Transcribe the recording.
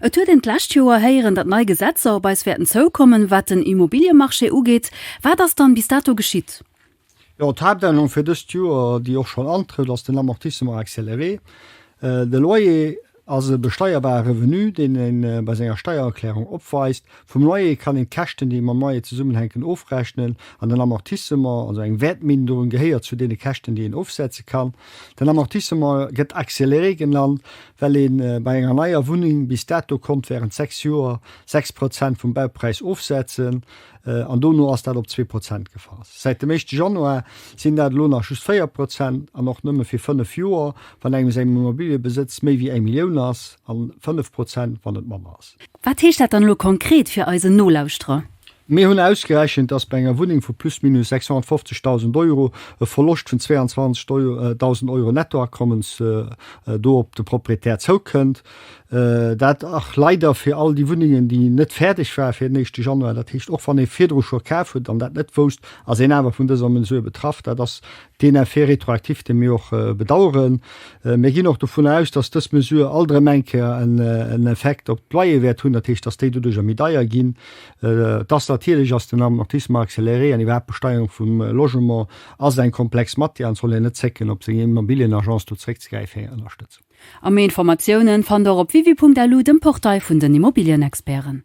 Et huet een d'lescht Joer héieren, datt nei Gesetzer op eis wäerten zoukommen, wat den Immobiliemarché ugeet. Wat ass dann bis dato geschitt? Jo, d'Haaptännerung fir dëst Joer, déi och schonn antrëtt, ass den Amortissement accéléré. De Loyer ass e besteierbare Revenu, deen ee bei senger Steiererklärung opweist. Vum Loyer kann een d'Käschten, déi mam Loyer zesummenhänken, ofrechnen an den Amortissement, also eng Wäertminderung, gehéiert zu deene Käschten, déi een ofsetze kann. Den Amortissement gëtt accéléré genannt, well ee bei enger neier Wunneng bis dato konnt wärend sechs Joer sechs Prozent vum Baupräis ofsetzen an dono ass dat op zwee Prozent gefall. Säit dem éischte Januar sinn dat elo nach just véier Prozent an och nëmme fir fënnef Joer, wann engem säin Immobiliëbesëtz méi wéi eng Millioun ass, an fënnef Prozent, wann et manner ass. Wat heescht dat dann elo konkret fir eisen Nolauschterer? Mir hunn ausgerechent, dass bei enger Wunneng vu plus minus 650.000 Euro e Verloscht vun 22.000 Euro Nettoakommens do op de Proprietär zoukënnt. Dat och leider fir all déi Wunnengen, déi net fäerdeg waren fir den éischte Januar. Dat heescht, och wann ee virdru scho kaf huet an dat net wousst, ass een awer vun dëser Mesure betraff. Dat ass Deen Effet rétroactif, dee mir och bedauern. Mir ginn och dovun aus, dass dës Mesure alt erëm eng Kéier en Effekt op d'Loyer wäert hunn, dat heescht, dass déi doduerjer méi deier ginn. Et ass natierlech, ass den Amortissement accéléré an iwwerhaapt d'Besteuerung vum Logement ass eng komplex Matière an et soll een net zécken, op seng Immobilienagence do zréckzegräifen fir eng Ënnerstëtzung. A méi Informatiounen fannt der op www.alu, dem Portail vun den Immobilienexperten.